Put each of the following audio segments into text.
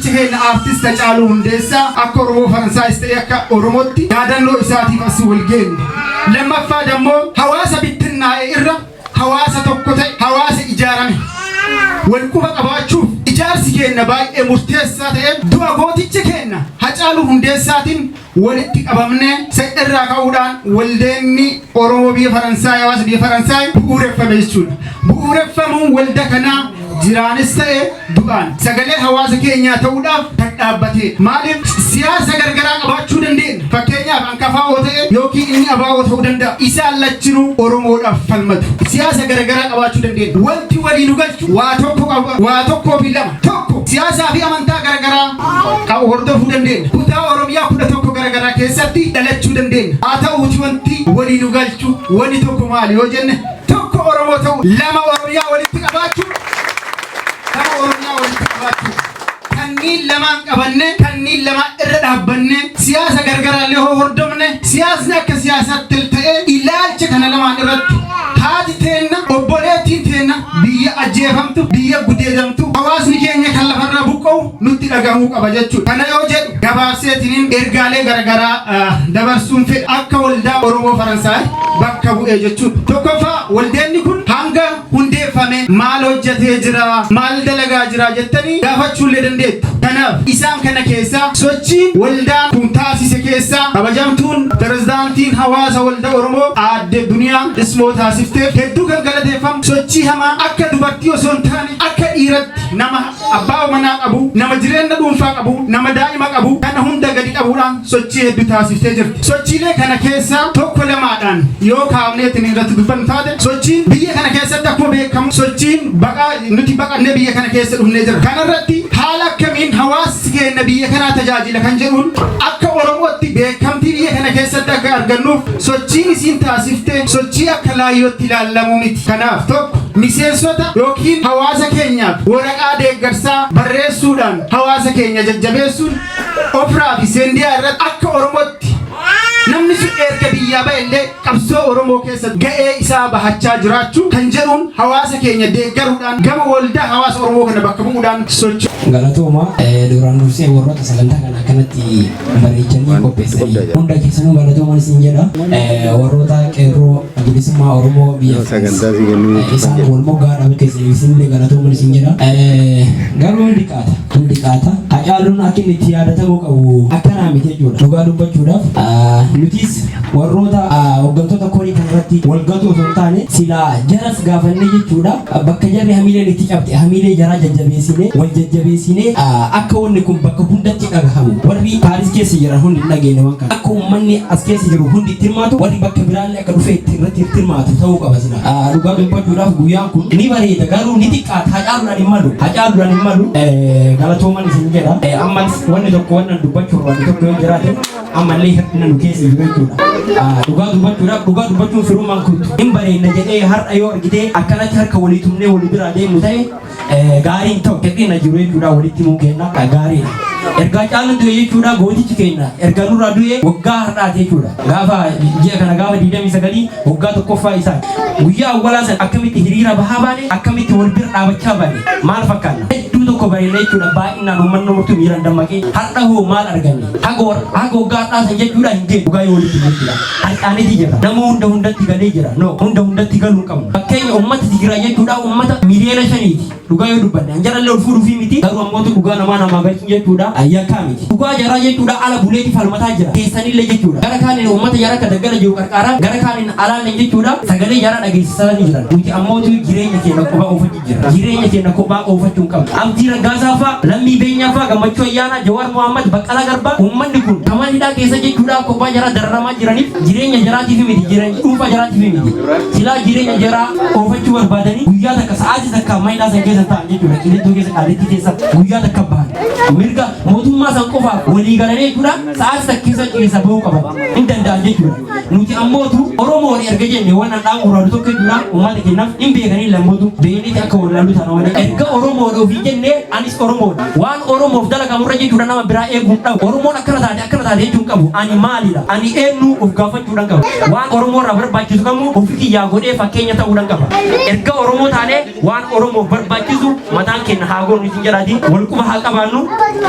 keenya aartist Hacaaluu Hundeessaa akka Oromoo Faransaayis ta'e akka Oromootti yaadannoo isaatiif as wal geenye. Lammaffaa dammoo hawaasa bittinnaa'e irra hawaasa tokko ta'e hawaasa ijaarame. Wal quba qabaachuuf ijaarsi keenya baay'ee murteessaa ta'e du'a gooticha keenya Hacaaluu Hundeessaatiin walitti qabamne se irraa ka'uudhaan waldeenni Oromoo biyya Faransaay hawaasa biyya Faransaay bu'uureffame jechuudha. Bu'uureffamuun walda kanaa jiraanis ta'e du'aan sagalee hawaasa keenyaa ta'uudhaaf kan dhaabbatee maaliif siyaasa gargaraa qabaachuu dandeenya fakkeenyaaf hanqafaa oo ta'e yookiin inni abaa oo ta'uu danda'a isaan lachinuu oromoodhaaf falmatu siyaasa gargaraa qabaachuu dandeenya wanti walii nu galchu waa tokko qaba waa tokkoo fi lama 1. Siyaasaa fi amantaa garagaraa qabu hordofuu dandeenya. Kutaa Oromiyaa 11 garagaraa keessatti dhalachuu dandeenya. Haa ta'uuti wanti walii nu galchu wanni tokko maali yoo jenne tokko Oromoo ta'u lama Oromiyaa walitti qabaachuu lama Oromiyaa walitti qabaachuu kanniin lamaan qabanne kanniin lamaan irra dhaabbanne siyaasa gargaraallee hoo hordofne siyaasni akka siyaasaatti ta'ee ilaalcha kana lamaan irratti haati teenna obboleettiin teenna Biyya ajjeefamtu, biyya gudeedamtu, hawaasni keenya kan lafarraa buqqa'u nutti dhaga'amuu qaba jechuudha. Kana yoo jedhu gabaabseetiniin ergaalee garagaraa dabarsuun fedha. Akka waldaa Oromoo Faransaay bakka bu'ee jechuudha. Tokkoffaa waldeenni kun hanga hundeeffame maal hojjatee jira, maal dalagaa jira jettanii gaafachuullee dandeettu. Kanaaf isaan kana keessaa sochiin waldaan kun taasise keessaa kabajamtuun pirezidaantiin hawaasa waldaa Aadde Oromoo Aadde Duniyaa Ismoo taasifteef hedduu kan galateeffamu sochii hamaa akka dubartii osoo hin taane akka dhiiratti nama abbaa manaa qabu nama jireenya dhuunfaa qabu nama daa'ima qabu kana hunda gadi qabuudhaan sochii hedduu taasiftee jirti. Sochiilee kana keessaa tokko lamaadhaan yoo kaafneetiin irratti dubbannu taate sochiin biyya kana keessatti akkuma beekamu sochiin baqaa nuti baqannee biyya kana keessa dhufnee jira. Kanarratti haala akkamiin hawaasa Hawaasi keenya biyya kanaa tajaajila kan jedhuun akka Oromootti beekamtii biyya kana keessatti akka argannuuf sochiin isiin taasifte sochii akka laayyootti ilaallamu miti. Kanaaf tokko miseensota ykn hawaasa keenyaaf waraqaa deeggarsaa barreessuudhaan hawaasa keenya jajjabeessuun Ofraa fi Seendiyaa irratti akka Oromootti namni sun erga biyyaa ba'e illee qabsoo Oromoo keessatti ga'ee isaa bahachaa jiraachuu kan jedhuun hawaasa keenya deeggaruudhaan gama waldaa hawaasa Oromoo kana bakka bu'uudhaan socho'u. Galatooma duraan dursee warroota sagantaa kana akkanatti bareechanii qopheessanii hunda keessanuu galatoomaan isin jedha warroota qeerroo bilisummaa Oromoo biyya isaan wal moggaa dhabu keessaniif isinillee galatoomaan isin jedha garuu ni xiqqaata hin xiqaata. Hacaaluun akka inni itti yaadatamuu qabu akkanaa miti jechuudha. Dhugaa dubbachuudhaaf nutis warroota hoggantoota korii kanarratti walgatu osoo hin taane silaa jaras gaafannee jechuudha. Bakka jarri hamiileen itti cabxe hamiilee jaraa jajjabeessinee wal jajjabeessinee akka wanni kun bakka hundatti dhagahamu warri Paaris keessa jiran hundi hin dhageenye waan kana. Akka uummanni as keessa jiru hundi itti hirmaatu warri bakka biraallee akka dhufee itti irratti itti hirmaatu ta'uu qaba sila. Ah, Dhugaa dubbachuudhaaf guyyaan kun ni bareeda garuu ni xiqqaata hacaaluudhaan hin malu hacaaluudhaan hin malu Eh, galatooman isin jedha Eh, ammas wanni tokko wanna dubbachuu barbaadu tokko yoo jiraate ammallee hir'ina nu keessa jiru jechuudha. Ah, Dhugaa dubbachuudhaaf dhugaa dubbachuun firummaan kun hin bareedna jedhee har'a yoo argitee akkanatti harka walii tumnee walii biraa deemnu ta'e Eh, gaariin ta'u xiqqina jiru jechuudha walitti himuu keenya eh, gaariidha. Ergaa caalu du'e jechuudha gootichi keenya erga nurraa du'e waggaa har'aati jechuudha. Gaafa ji'a kana gaafa 29 waggaa tokkoffaa isaa guyyaa awwalaa sana akkamitti hiriira bahaa baane akkamitti wal bira dhaabachaa baane maal fakkaanna. Hedduu tokko bareedna jechuudha baay'inaan uummanni murtuu miiraan dammaqee har'a hoo maal arganne haga waggaa har'aa sana jechuudha hin deemu dhugaa yoo walitti himuu jechuudha. Harkaa miti jedha. Nama hunda hundatti galee jira. No, hunda hundatti galuu hin qabnu. Fakkeenya uummata Tigraay jechuudha uummata miliyoona shaniiti. Dhugaa yoo dubbanne an jarallee ol fuudhuufii miti. Garuu ammoo dhugaa namaa namaa galchuun jechuudha yakkaa miti. Dhugaa jaraa jechuudha ala buleeti falmataa jira. Keessanillee jechuudha. Gara kaaniin uummata jara akka daggala jiru qarqaaraan gara kaaniin alaallee jechuudha sagalee jara dhageessisaa ni jiran. Nuti ammoo jireenya keenya qofa ofa jirra. Jireenya keenya kophaa oofachuu hin qabnu. Abdii Raggaasaa faa, Lammii Beenyaa faa, Gammachuu Ayyaanaa, Jawaar Mohaammed, Baqqalaa Garbaa uummanni kun ta mana hidhaa keessa jechuudhaaf kophaa jaraa dararamaa jiraniif jireenya jaraatiif miti jireenya dhuunfaa jaraatiif miti. Silaa jireenya jaraa oofachuu barbaadanii guyyaa takka sa'aatii takka mana hidhaa san keessa ta'an jechuudha. Qilixxoo keessa qaalitti keessa guyyaa takka bahan. Mirga mootummaa san qofaaf walii galanii jechuudha sa'aatii takka keessa keessa bahuu qaban. Hin danda'an jechuudha. Nuti ammootu Oromoon erga jenne waan handhaan gurraalu tokko jira uummata kennaaf hin beekanii lammootu beekniiti akka wallaalu taana waan erga Oromoon ofii jenne anis Oromoon waan Oromoof dalagamu irra jechuudha nama biraa eeguun dhabu Oromoon akkana taate akkana taate jechuun qabu ani maalidha ani eenyu of gaafachuudhaan qaba waan Oromoo irraa barbaachisu kamuu ofi kiyyaa godhee fakkeenya ta'uudhaan qaba erga Oromoo taanee Waan Oromoof barbaachisu mataan keenya haa goonu isin jedhaati. Wal quba haa qabaannu,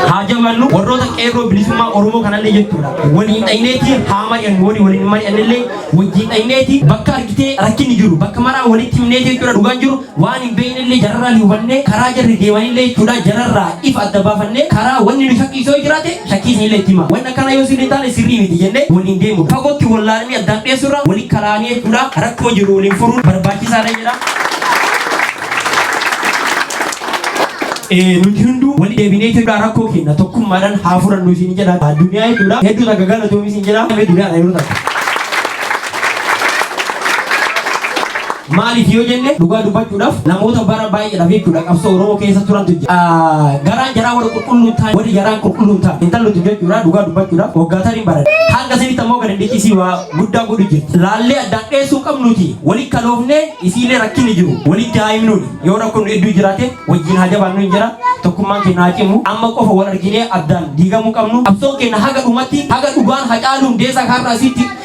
haa jabaannu. Warroota qeerroo bilisummaa Oromoo kanallee jechuudha. Waliin dhayneeti haa mari'annu warri waliin mari'annillee wajjin dhayneeti bakka argitee rakkinni jiru bakka maraa walitti himneeti jechuudha dhugaan jiru waan hin beeknellee jararraa hubannee karaa jarri deemanillee jechuudha jararraa ifa adda baafannee karaa wanni nu shakkiisoo jiraate shakkii isinillee itti himaa. Wanni akkanaa yoo sirrii hin taane sirrii miti jennee waliin deemudha. Fagootti wallaalanii addaan dhiyeessuurra waliin kalaanii jechuudha. Rakkoo jiru waliin furuun barbaachisaadha jedha. Eh, nuti hunduu wali deebinee Itoophiyaa rakkoo keenya tokkummaadhaan haa furannu isin jedha. Addunyaa hedduudha. Hedduu takka galatoomi isin jedha. Duniyaa dha yeroo takka. Maaliif yoo jenne dhugaa dubbachuudhaaf namoota bara baay'eedhaaf jechuudha qabsoo Oromoo keessa turantu jira. Ah, Garaan jaraa warra qulqulluun ta'an warri jaraan qulqulluun ta'an intallutu jechuudha dhugaa dubbachuudhaaf waggaatan hin baran. Hanga isinitti ammoo gadi dhiqisii waa guddaa godhu jirti. Laallee addaan dheessuu qabnuuti walitti kaloofnee isiilee rakkinni jiru walitti haa himnuun yoo rakkoon hedduu jiraate wajjin haa jabaannu hin jira tokkummaan keenya haa cimu amma qofa wal arginee addaan diigamuu qabnu qabsoon keenya haga dhumatti haga dhugaan hacaaluun deesaa kaarraa isiitti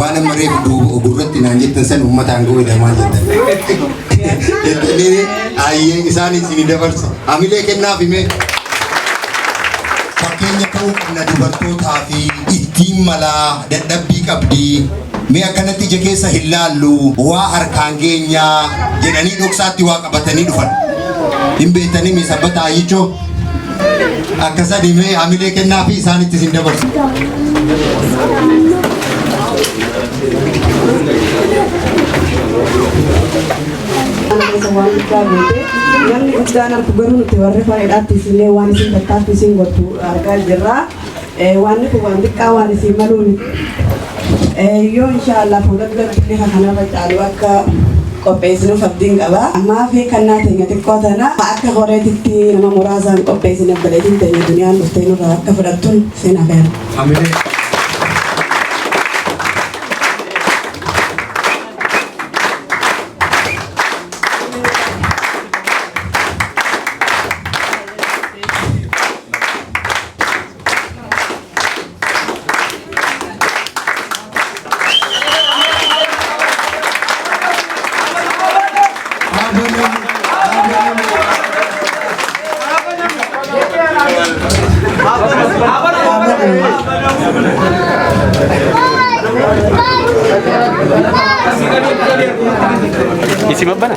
waan amma reefu duuba gurratti naan jettan san uummata aangoo jedha maal jettan jettanii ayyeen isaan isin dabarsa hamilee kennaaf himee fakkeenya ta'uu qabna dubartootaa fi ittiin malaa dadhabbii qabdi mee akkanatti ija keessa hin laallu waa harkaan geenyaa jedhanii dhoksaatti waa qabatanii dhufan hin beektanii mee sabbataa ayyichoo Akka sadii mee hamilee kennaa fi isaanitti isin dabarsu. namni guddaan argu garuu nuti warri faayidhaatti isinlee waan isin tattaaffi isin godhu argaa jirra. Waanni kun waan xiqqaa waan isiin maluu miti. Yoo inshaallah fuula duratti bifa kanarra caalu akka qopheessinuuf abdiin qaba. Ammaaf kannaa teenya xiqqoo tana akka horeetitti nama muraasaan qopheessine obboleettiin teenya duniyaan dhuftee nurraa akka fudhattuun sin afeera. Isi mabbana.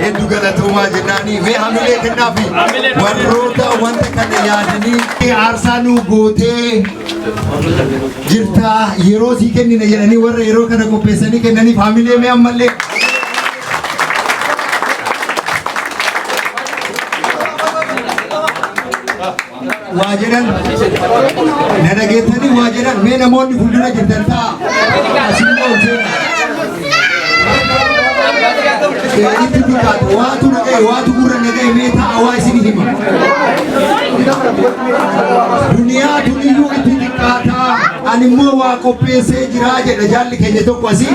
Hedduu galatoomaa jennaanii mee hamilee kennaa fi warroota wanta kana yaadanii aarsaa nuu gootee jirtaa yeroo sii kennina jedhanii warra yeroo kana qopheessanii kennaniif hamilee mee ammallee. waa jedhan na dhageettanii waa jedhan mee namoonni fuuldura jirtan ta'a asiin ol seenaa itti dubbatu waatu na ga'e waatu gurra na ga'e mee ta'a waa isin hima duniyaa duniyyuu itti xiqqaataa ani immoo waa qopheessee jiraa jedha jaalli keenya tokko asii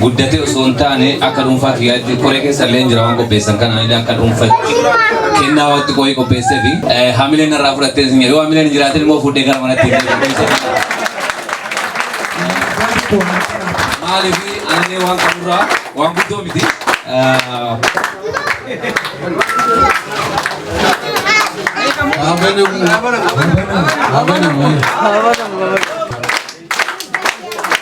guddatee osoo hin taane akka dhuunfaa kiyyaatti koree keessa illee jira waan qopheessan kana illee akka dhuunfatti kennaa wanti qo'ee qopheessee fi hamileen irraa fudhattee isin yoo hamileen hin jiraatin immoo fuudhee gara manatti illee qopheessee. Maaliif anillee waan qaburraa waan guddoo miti. Abanamu. Abanamu. Abanamu.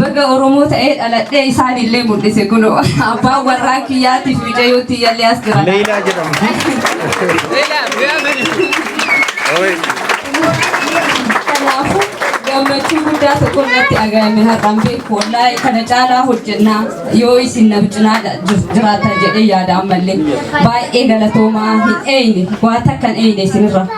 Baga Oromoo ta'ee dhaladhee isaan illee mul'ise kun abbaan warraa kiyyaatiif mijayyoo tiyyallee as jira. Leelaa jedhamti. Kanaafuu gammachuu guddaa tokko irratti aga'ame har'aan beeku wallaahi kana caalaa hojjennaa yoo isin na cinaa jiraatan jedhee yaada ammallee baay'ee galatoomaa hin eeyne waa takkan eeyne isinirra.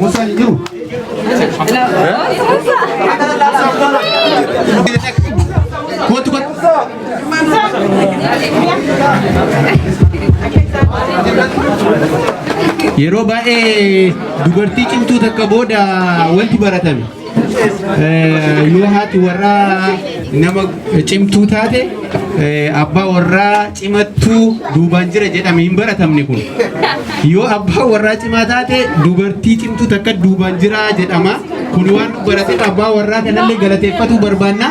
Musa hin jiru. Kootu kootu. Yeroo baay'ee dubartii cimtuu takka booda wanti baratame. yoo haati warraa nama cimtuu taate abbaa warraa cimattuu duubaan jira jedhame hin baratamne kun yoo abbaa warraa cimaa taate dubartii cimtuu takka duubaan jira jedhama kun waan barateef abbaa warraa kanallee galateeffatuu barbaanna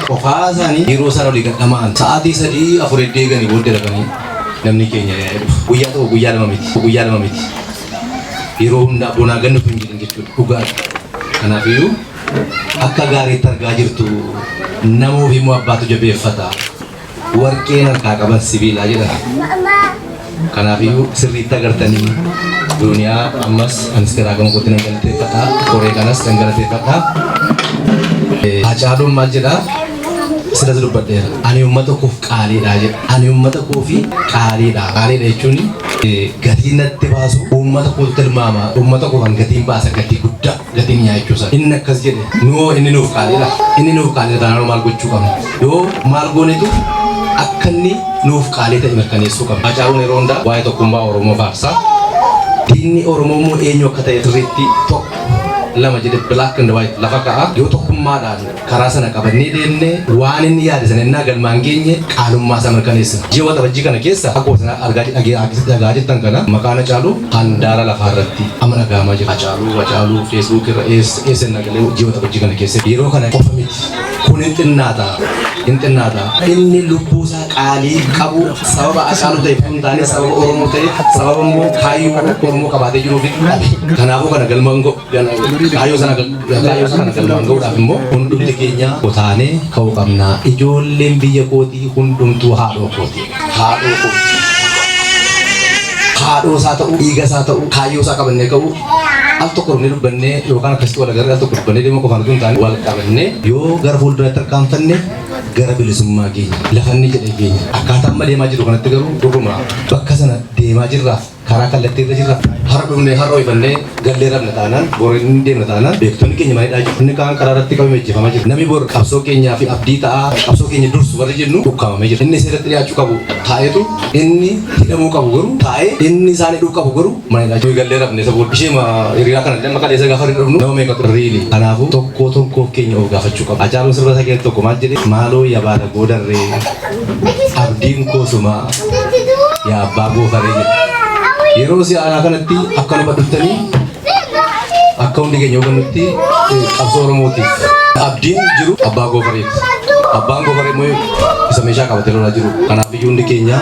Qofaa isaanii yeroo isaan olii gad dhama'an sa'aatii sadii afur edda eeganii booddee dhaqanii namni keenya yaa'ee dhufa. Guyyaa tokko guyyaa lama miti guyyaa lama miti yeroo hundaa bonaa gad nuuf hin jedhin jechuudha dhugaadha. Kanaafiyyuu akka gaariitti argaa jirtu nama ofii immoo abbaatu jabeeffata. warqeen harkaa qaban sibiilaa jedhama. Kanaafiyyuu sirriitti agartanii duuniyaa ammas anis garaa gama kootti nan galateeffadha. Koree kanas nan galateeffadha. Hacaaluun maal jedhaa? Silas dubbadheera. Ani uummata koof qaaliidha jedha. Ani uummata koofi qaaliidha. Qaaliidha jechuun gatii natti baasu uummata kootu tilmaama. Uummata koofan gatiin baasa gatii guddaa. gatii mi'aa jechuu isaa inni akkas jedhe nuu inni nuuf qaaliidha inni nuuf qaaliidha taanaan maal gochuu qabna yoo maal goonetu akka inni nuuf qaalii ta'e mirkaneessuu qabna Haacaaluun yeroo hundaa waa'ee tokkummaa Oromoo faarsaa diinni Oromoo immoo eenyu akka ta'e sirriitti tokko lama jedhe black and white lafa ka'a yoo tokkummaadhaan karaa sana qabannee deemne waan inni yaade sana innaa galmaan geenye qaalummaa isaa mirkaneessina. Ji'a waxabajjii kana keessa akkuma sana argaa dhagaa jirtan kana maqaan Hacaaluu handaara lafaa irratti amma dhaga'amaa jira. Hacaaluu Hacaaluu feesbuuk irra eessa innaa galee ji'a waxabajjii kana keessa yeroo kana qofa miti. Kun hin xinnaata. Hin xinnaata. Inni lubbuu isaa qaalii qabu sababa Hacaaluu ta'eef hin taane sababa Oromoo ta'eef sababa immoo kaayyoo Oromoo qabaatee jiruuf dhabe. Kanaafuu kana galmaan ga'u. Kaayyoo sana galmaan gahuudhaaf immoo hundumti keenya kutaanee ka'uu qabna. Ijoolleen biyya kootii hundumtuu haadhoo kooti. Haadhoo kooti. Haadhoo isaa ta'uu, dhiiga isaa ta'uu, kaayyoo isaa qabannee ka'uu al tokko dhufnee dubbannee yookaan akkasitti wal agarree al tokko dubbannee deemuu qofaan utuu hin taane wal qabannee yoo gara fuulduraatti tarkaanfanne gara bilisummaa keenya lafanni jedhe keenya akkaataa amma deemaa jiru kanatti garuu dhuguma bakka sana deemaa jirraaf karaa kallattii irra jirra. Har'a dhufnee har'a ho'ifannee gallee rabna taanaan bor hin deemna taanaan beektonni keenya maal jedhaa jiru. Inni kaan karaa irratti qabame ajjeefamaa jira. Namni bor qabsoo keenyaa fi abdii ta'aa qabsoo keenya dursu warri jennu ukkaamamee jira. Inni seeratti dhiyaachuu qabu taa'eetu inni hidhamuu qabu garuu taa'ee inni isaan hidhuu qabu garuu maal jedhaa jiru. Gallee rabne isa booda isheema hiriyaa kana illee maqaa dheessa gaafa irra dhufnu nama meeqa ture riili. Kanaafuu tokkoo tokkoo keenya of gaafachuu qaba. Hacaaluun sirba isaa keessatti tokko maal jedhee maaloo yabaala goodarree. abdiin koo sumaa yaa abbaa goofaree jedha. Yeroo si aanaa kanatti akka nu badhuttanii akka hundi keenya hubannutti eh, qabsoo Oromootiif abdiin jiru abbaa goofareef. Abbaan goofaree immoo isa meeshaa qabatee lolaa jiru. Kanaaf iyyuu hundi keenya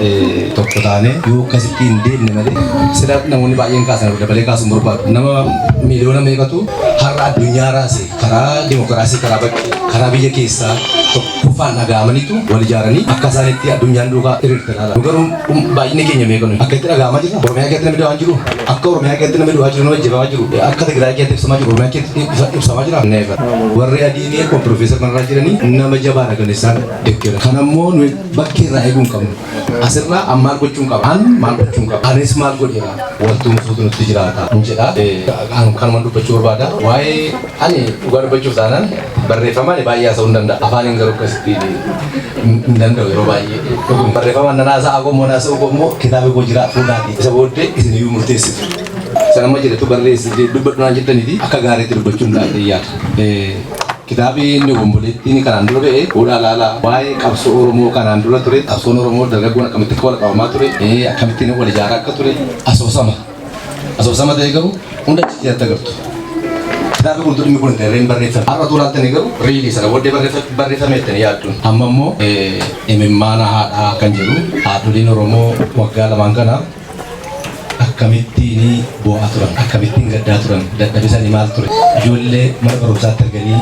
eh, tokko taanee yoo akkasitti hin deemne malee sila namoonni baay'een kaasan dabalee kaasuun barbaadu. Nama miliyoona meeqatu har'a addunyaa raase karaa dimokiraasii karaa bakkee karaa biyya keessaa tokko Kuffaan dhaga'amaniitu wal ijaaranii akka isaan itti addunyaan duukaa hiriirte laala. Nu garuu um, baay'inni keenya meeqa nuyi? Akka itti dhaga'amaa jirra? Oromiyaa keessatti namni du'aa jiru? Akka Oromiyaa keessatti namni du'aa jiru, namni ajjeefamaa jiru? Akka Tigraay keessatti ibsamaa jiru, Oromiyaa keessatti ibsa- ibsamaa jira? Never. Warri adii ni akkuma Piroofeesar Mararaa jedhanii nama jabaadha kan isaan deeggera. Kan ammoo nuyi bakkee irraa eeguu hin qabnu. Asirraa an maal gochuun qaba? An maal gochuun qaba? Anis maal godheera? Wanti fuutu nutti jiraata. Hin jedha. Eh, kan- Kanuma dubbachuu barbaada. Waa'ee Ani dhugaa dubbachuuf taanaan barreeffamaan baay'ee haasa'uu hin danda'a. Afaaniin garuu akkasitti hin danda'u yeroo baay'ee. Dhuguun barreeffamaan nan haasa'aa qomoo haasa'uu qomoo kitaaba koo jira fuudhaati. Isa booddee isin iyyuu murteessitu. Sana amma jedhetu barreessi dubbadhu naan jettaniiti akka gaariitti dubbachuu hin dhaadhee yaada. Kitaabi inni obomboleettiin kanaan dura ba'e fuudhaa laala waa'ee qabsoo Oromoo kanaan dura ture qabsoon Oromoo dargaggoon akkamitti akka wal qabamaa ture akkamitti wal ijaaraa akka ture asoosama. Asoosama ta'e garuu hunda achitti atta gartu. Kitaabni kun dhimmi kun ta'e reen barreeffame. Har'a tuulaa ta'e garuu reelii sana booddee barreeffame ta'e yaadduun. Amma immoo imimmaana haadhaa kan jedhu haadholiin Oromoo waggaa lamaan kana akkamittiin boo'aa turan akkamittiin gaddaa turan dadhabisanii maal ture ijoollee mana barumsaatti arganii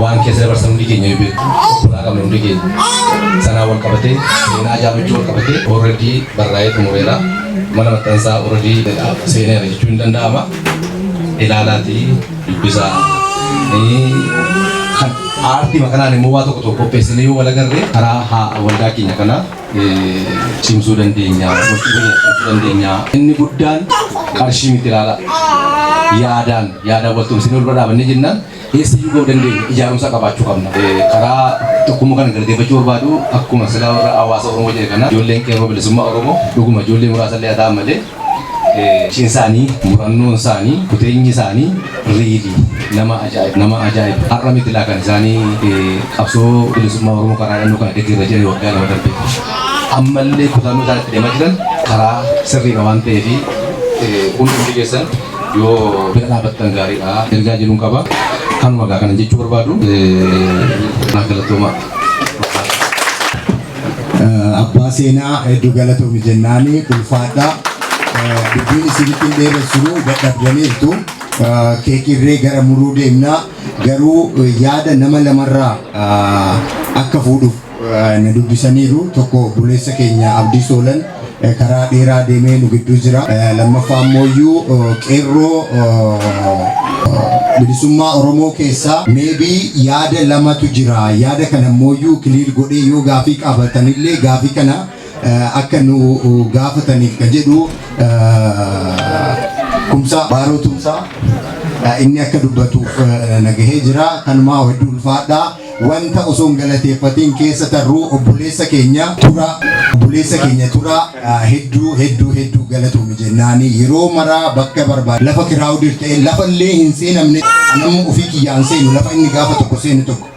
waan keessa dabarsan hundi keenya yoo beeku obbolaa qabna hundi keenya sanaa wal qabatee seenaa jaamachuu wal qabatee already barraa'ee xumureera. mana maxxansaa Uradii jedhaaf seeneera jechuun ni danda'ama. Ilaalaatii dubbisaa. Kan aartii makanaan immoo waa tokko tokko qopheessinee yoo wal agarre karaa haa waldaa keenya kana cimsuu dandeenya, wal cimsuu dandeenya. Inni guddaan qarshii miti ilaalaa. Yaadaan yaadaan wal tumsinee wal bira dhaabannee jennaan Eessayyuu ga'uu dandeenyu ijaarumsa qabaachuu qabna. Karaa tokkummaa kana galateeffachuu barbaadu akkuma silaa warra hawaasa Oromoo jedhe kana ijoolleen qeerroo bilisummaa Oromoo dhuguma ijoollee muraasa illee haa ta'an malee Cin isaanii, murannoon isaanii, kuteenyi isaanii riili nama ajaa'iba. Nama ajaa'iba. Har'a miti laa kan isaanii qabsoo bilisummaa Oromoo karaa dhannoo kana deeggarra jiran waggaa lama darbe. Ammallee kutannoo isaan itti deemaa jiran karaa sirriidha waan ta'eef hundi keessan yoo bira dhaabattan gaariidha ergaa jedhuun qaba kanuma gaa kanan jechuu barbaadu naa galatoomaa. abbaa seenaa hedduu galatoomi jennaani ulfaadhaa dubbiin isinitti hin dheeressinu dadhabdaniirtu keekirree gara muruu deemnaa garuu yaada nama lamarraa akka fuudhuuf na dubbisaniiru. Tokko obboleessa keenya Abdii Soolan karaa dheeraa deemee nu gidduu jira. Lammaffaa immooyyuu qeerroo bilisummaa Oromoo keessaa maybe yaada lamatu jira. Yaada kana immooyyuu clear godhee yoo gaafii qaabatanillee gaafii kana akka nu gaafataniif ka jedhu Kumsaa Baaroo Tumsaa inni akka dubbatuuf na gahee jira. Kanumaa hedduu ulfaadhaa. Wanta osoo hin galateeffatiin keessa tarruu obboleessa keenya Turaa obboleessa keenya Turaa hedduu hedduu hedduu galatoomi jennaani yeroo maraa bakka barbaade lafa kiraawudir ta'e lafa illee hin seenamne anamma ofii kiyyaan seenu lafa inni gaafa tokko seenu tokko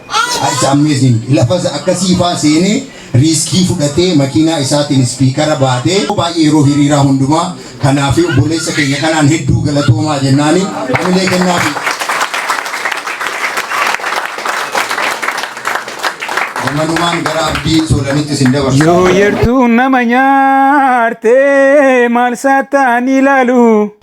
it's amazing lafa akkasii faa seenee riiskii fudhatee makiinaa isaatiin ispiikara baatee baay'ee yeroo hiriiraa hundumaa kanaafi obboleessa keenya kanaan hedduu galatoomaa jennaani hamilee kennaafi. Manumaan gara abdii soolanitti isin dabarsa. Yoo yertuun nama nyaarte maal saataan ilaalu.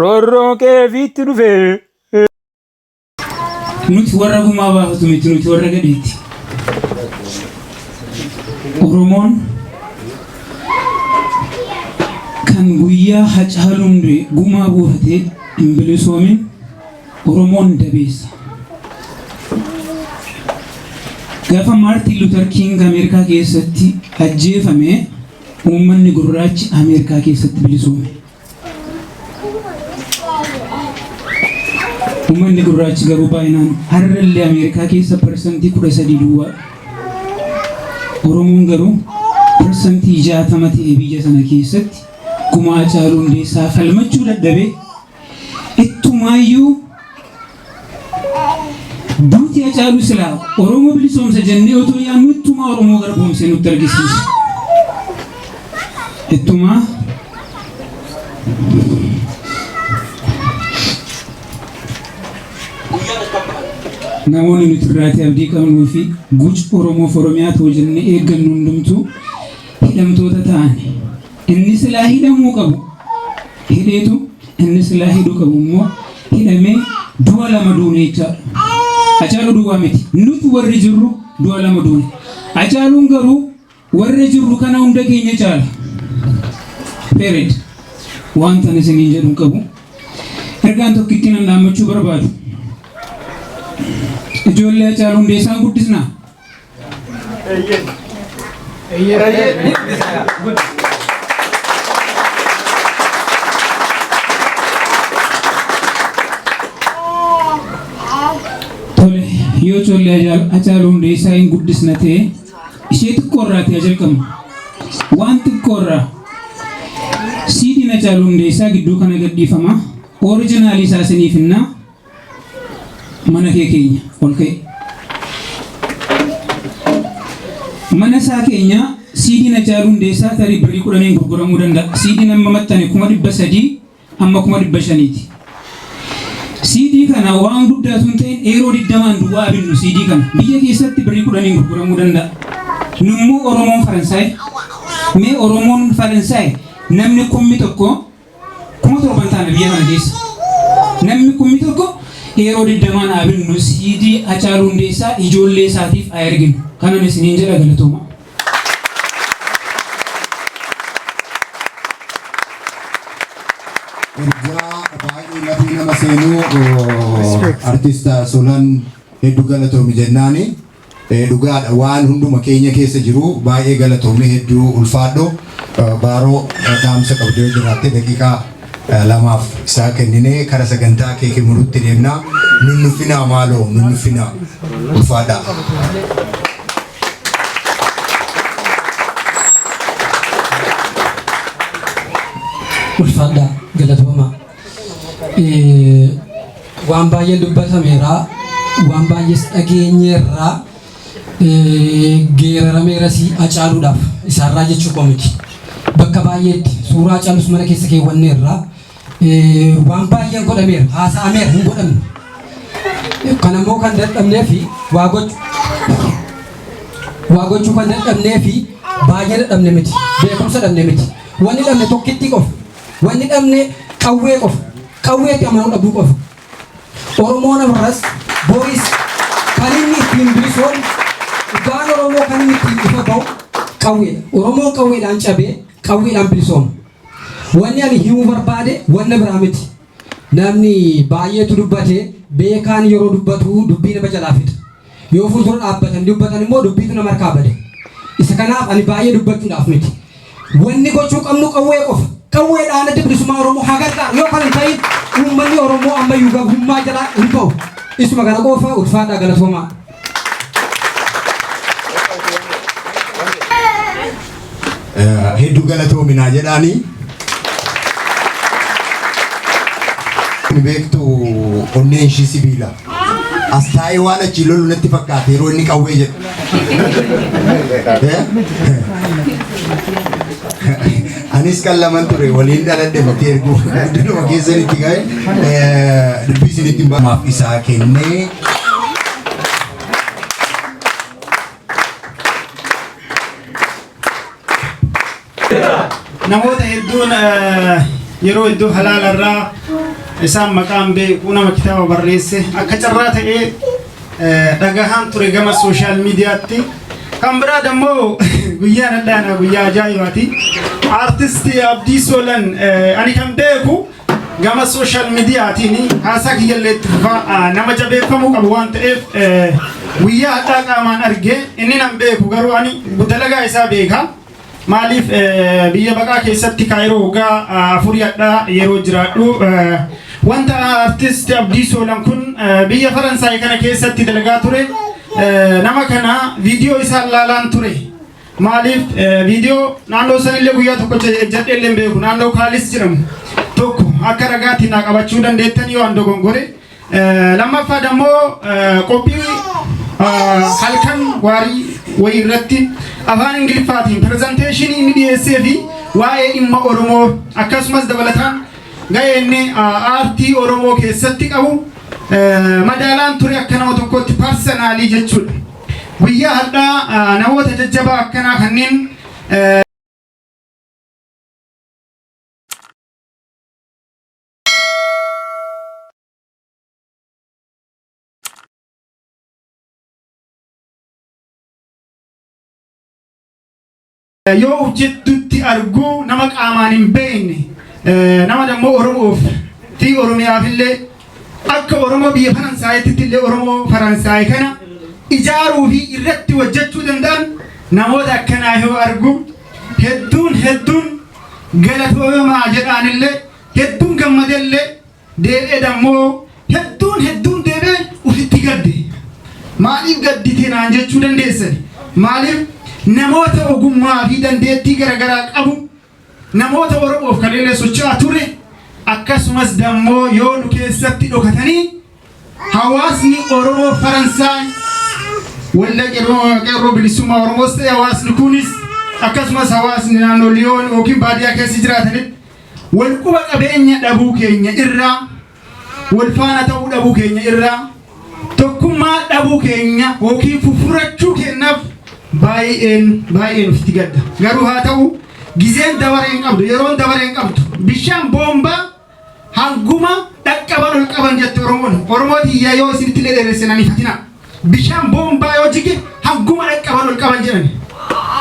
Roorroo kee fiitti dhufee. Nuti warra gumaa baafatu miti nuti warra gadheeti. Oromoon kan guyyaa hacaaluun gumaa buufatee hin bilisoomin Oromoon dabeessa. Gaafa Maartiin Luutar Kiing Ameerikaa keessatti ajjeefame Uummanni gurraachi Ameerikaa keessatti bilisoome. Uummanni gurraachi garuu baay'inaan har'allee Ameerikaa keessa parsantii kudha sadii duwwaa. Oromoon garuu parsantii jaatama ta'e biyya sana keessatti kumaa caaluu hundeessaa falmachuu dadhabee ittumaayyuu Duuti Hacaaluu silaa Oromoo bilisoomsa jennee otoo yaadnu ittumaa Oromoo garboomsee nutti argisiisa. Ittumaa namoonni nuti irraatii abdii qabnuu fi guca Oromoof Oromiyaa ta'u jennee eeggannu hundumtuu hidhamtoota ta'an. Inni silaa hidhamuu qabu hidheetu inni silaa hidhuu qabu immoo hidhamee du'a lama duune jechaadha. Hacaaluu duwwaa miti. Nuti warri jirru du'a lama duune. Hacaaluun garuu warra jirru kana hunda keenya caala. Period. Wanta ani isiniin jedhu hin qabu. Ergaan tokkittiin an dhaammachuu barbaadu. Ijoollee Hacaaluu Hundeessaan guddisnaa. Tole, yoo tollee ajaal- ajaaluu hundeessaa hin guddisna ta'e ishee xiqqoo irraa ta'e jalqabna. Waan xiqqoo irraa siidiin ajaaluu hundeessaa gidduu kana gadhiifama. Orijinaalii isaa isiniif hinnaa Mana kee keenya ol ka'i. Mana isaa keenyaa CDn Hacaaluu Hundeessaa tarii birrii kudhaniin gurguramuu danda'a. CDn amma maxxane kuma dhibba sadii amma kuma dhibba shaniiti. CD kana waan guddaa osoo hin ta'in eeroo digdamaan duwwaa binnu CD kana biyya keessatti birrii kudhaniin gurguramuu danda'a. Nummoo Oromoon Faransaay mee Oromoon Faransaay namni kummi tokko Kuma torban taana biyya kana keessa. Nammi kummi tokko yeroo digdamaan haa binnu CD Hacaaluu Hundeessaa ijoollee isaatiif haa erginu. Kanan isiniin jedha galatoomaa. Ergaa baay'ee matii nama seenuu artist Solan hedduu galatoomi jennaani. Ee dhugaadha waan hunduma keenya keessa jiru baay'ee galatoomi hedduu ulfaadhu Baaroo dhaamsa qabdu yoo jiraatte daqiiqaa lamaaf isaa kenninee kara sagantaa kee kimurutti deemna nunnufinaa maaloo nunnufinaa ulfaadhaa. Ulfaadhaa galatoomaa. waan baay'ee dubbatameera waan baay'ees dhageenyeerra geerarameera si acaaluudhaaf isaarraa jechuu koo miti bakka baay'eetti suuraa calus mana keessa keewwanneerra waan baay'een godhameera haasa'ameera hin godhamne kan ammoo kan dadhabnee fi waa gochuu waa gochuu kan dadhabnee fi baay'ee dadhabne miti beekumsa dhabne miti wanni dhabne tokkittii qofa Wanni dhabne qawwee qofa. Qawweetti amanuu dhabuu qofa. Oromoon ammas boris kan inni ittiin bilisoon dhugaan Oromoo kan inni ittiin ifa ba'u qawweedha. Oromoon qawweedhaan cabee qawweedhaan bilisooma. Wanni ani himuu barbaade wanna biraa miti. Namni baay'eetu dubbate, beekaan yeroo dubbatu dubbii nama jalaa fixa. Yoo fuuldura dhaabbatanii dubbatan immoo dubbiitu nama harkaa bada. Isa kanaaf ani baay'ee dubbachuudhaaf miti. Wanni gochuu qabnu qawwee qofa. Qawwee dhaan adda bilisummaa Oromoo haa gargaarru. Yoo kana hin ta'in uummanni Oromoo ammayyuu gabrummaa jalaa hin bahu. Isuma kana qofa ulfaadhaa galatoomaa. hedduu galatoominaa jedhaanii ni beektu onneen ishii sibiila as taa'ee waan achi lolu natti fakkaate yeroo inni qawwee jedhu. Eh? Anis kan laman ture waliin dhaladhe miti erguu guddinuma keessan itti ga'e dubbii isinitti hin baamaaf isaa kennee namoota hedduun eh, yeroo iddoo halaalarraa isaan maqaan beeku nama kitaaba barreesse akka carraa ta'ee dhagahaan ture gama sooshaal miidiyaatti. Kan biraa dammoo guyyaan addaanaa guyyaa ajaa'ibaati. Aartisti Abdii Soolan ani kan beeku gama sooshaal miidiyaatiin haasaa kiyyallee itti fufaa nama jabeeffamuu qabu waan ta'eef guyyaa hadhaa qaamaan argee inni nan beeku garuu ani dalagaa isaa beeka. Maaliif biyya baqaa keessatti Kaayiroo waggaa afurii hadhaa yeroo jiraadhu wanta artist Abdii Soolan kun biyya Faransaay kana keessatti dalagaa ture nama kana viidiyoo isaa laalaan ture. Maaliif viidiyoo naannoo sanillee guyyaa tokko jedhee illee beeku naannoo Kaalis jedhamu tokko akka ragaatiin naa qabachuu dandeettan yoo an dogongore Lammaffaa dammoo qophii halkan waarii wayii irratti afaan Ingiliffaatiin pirezenteeshinii inni dhiyeessee fi waa'ee dhimma Oromoo akkasumas dabalataan ga'ee inni aartii Oromoo keessatti qabu madaalaan ture akka nama tokkotti parsanaalii jechuudha. Guyyaa hadhaa namoota jajjabaa akkanaa kanneen yoo hojjettutti arguu nama qaamaan hin beekne nama dammoo Oromoof fi Oromiyaaf illee akka Oromoo biyya Faransaayitti illee Oromoo Faransaay kana ijaaruu fi irratti hojjechuu danda'an namoota akkanaa yoo argu hedduun hedduun galatoomaa jedhaan illee hedduun gammadelle deebi'e dammoo hedduun hedduun deebi'e ufitti gadde maaliif gaddite naan jechuu dandeessani maaliif namoota ogummaa fi dandeettii garagaraa qabu namoota oromoof kan illee socho'aa ture akkasumas dammoo yoo nu keessatti dhokatanii Hawaasni Oromoo Faransaay waldaa qeerroo bilisummaa Oromoos ta'e hawaasni kunis akkasumas hawaasni naannoo Liyoon yookiin baadiyyaa keessa jiraatanitti wal quba qabeenya dhabuu keenya irraa wal faana ta'uu dhabuu keenya irraa tokkummaa dhabuu keenya yookiin fufurachuu keenyaaf baay'een baay'een ofitti gadda. Garuu haa ta'u gizeen dabaree hin qabdu yeroon dabaree hin qabdu bishaan boombaa Hanguma dhaqqaban ol qaban jette Oromoon. Oromoo tiyya yoo isinitti illee dheeresse nan hifatina. Bishaan boombaa yoo jige hanguma dhaqqaban ol qaban jedhani.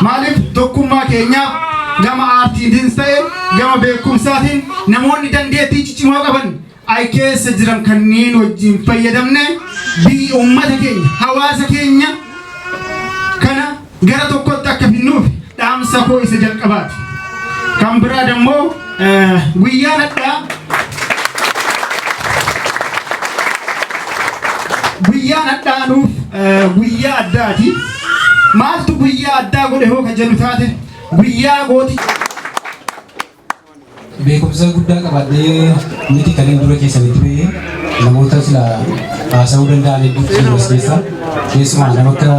Maaliif tokkummaa keenyaaf gama aartiitiinis ta'e gama beekumsaatiin namoonni dandeettii ciccimoo qaban ay keessa jiran kanneen wajjin fayyadamne biyyi uummata keenya hawaasa keenya kana gara tokkotti akka finnuuf dhaamsa koo isa jalqabaati. Kan biraa dammoo guyyaa hadhaa guyyaan hadhaa nuuf guyyaa addaati. Maaltu guyyaa addaa godhe hoo kan jedhu taate guyyaa gooti. Beekumsa guddaa qabaadhee miti kan inni dura keessanitti ba'ee namoota sila haasa'uu danda'an hedduu keessumas keessa keessumaa nama akka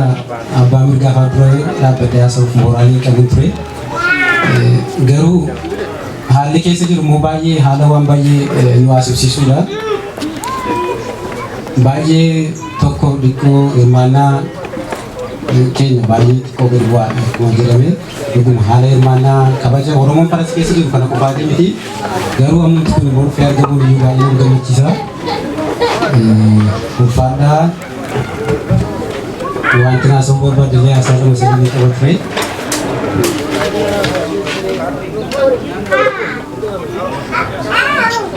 abbaa mirgaa fa'aa dura dhaabbadhee haasa'uuf mooraalii qabu ture. Garuu haalli keessa jiru immoo baay'ee haala waan baay'ee nu haasofsiisudha. Baay'ee tokko dhikkoo hirmaannaa keenya baay'ee xiqqoo gadi bu'aadha akkuma jedhame. Dhuguma haala hirmaannaa kabaja Oromoon Faransi keessa jiru kana qofaati miti. Garuu ammatti kun immoo dhufee argamuun iyyuu baay'ee nama gammachiisa. Ulfaadhaa wanti haasa'uu barbaadde illee haasaa lama sadii ni qaba ture.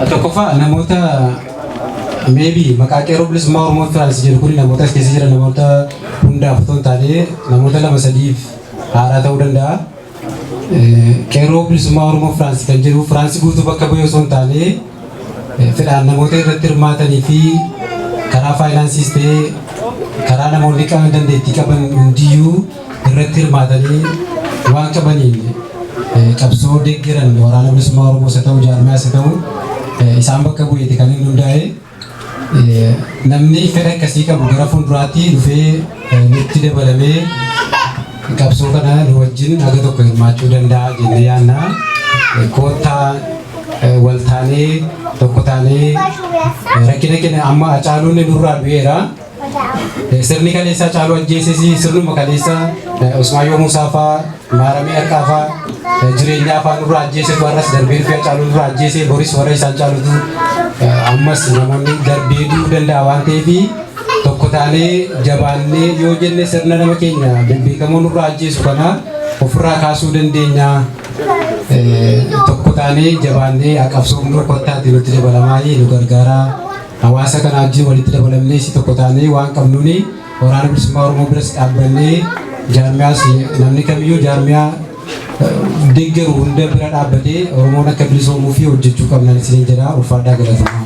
Tokkoffaa namoota maybe maqaa qeerroo bilisummaa Oromoo Firaansi jedhu kun namoota as keessa jiran namoota hundaaf otoo hin taane namoota lama sadiif haaraa ta'uu danda'a. Qeerroo bilisummaa Oromoo Firaansi kan jedhu Firaansi guutuu bakka bu'ee osoo hin taane fedhaan namoota irratti hirmaatanii fi karaa faayinaansiis ta'ee karaa namoonni qaban dandeettii qaban hundiyyuu irratti hirmaatanii waan qabaniin qabsoo deeggaran waraana bilisummaa Oromoo isa ta'u jaarmaa isa ta'u isaan bakka bu'eeti kan inni hundaa'e. Namni fedha akkasii qabu gara fuulduraatti dhufee nutti dabalamee qabsoo kana nu wajjin haga tokko hirmaachuu danda'a jennee yaanna. Koottaa wal taanee tokko taanee rakkina keenya amma Hacaaluun nurraa du'eera. Sirni kaleessaa caaluu ajjeesisi sirnuma kaleessaa Usmaayyoo Muusaa faa maaramee harkaa faa jireenyaa faa nurraa ajjeesetu har'as darbee dhufee caaluu nurraa ajjeese boris warra isaan caalutu ammas namoonni darbee du'uu danda'a waan ta'eef tokko taanee jabaannee yoo jenne sirna nama keenya beekamoo nurraa ajjeesu kana ofirraa kaasuu dandeenya. Tokko taanee jabaannee haqabsoofnu kottaatti nutti dabalamaayii nu gargaaraa. Hawaasa kanaa wajjin walitti dabalamnee si tokko taanee waan qabnuun Waraana Bilisummaa Oromoo biras dhaabbannee jaarmiyaas namni kamiyyuu jaarmiyaa deeggaru hunda bira dhaabbatee Oromoon akka bilisoomuu fi hojjechuu qabnan isiniin jedha ulfaadhaa galatamaa.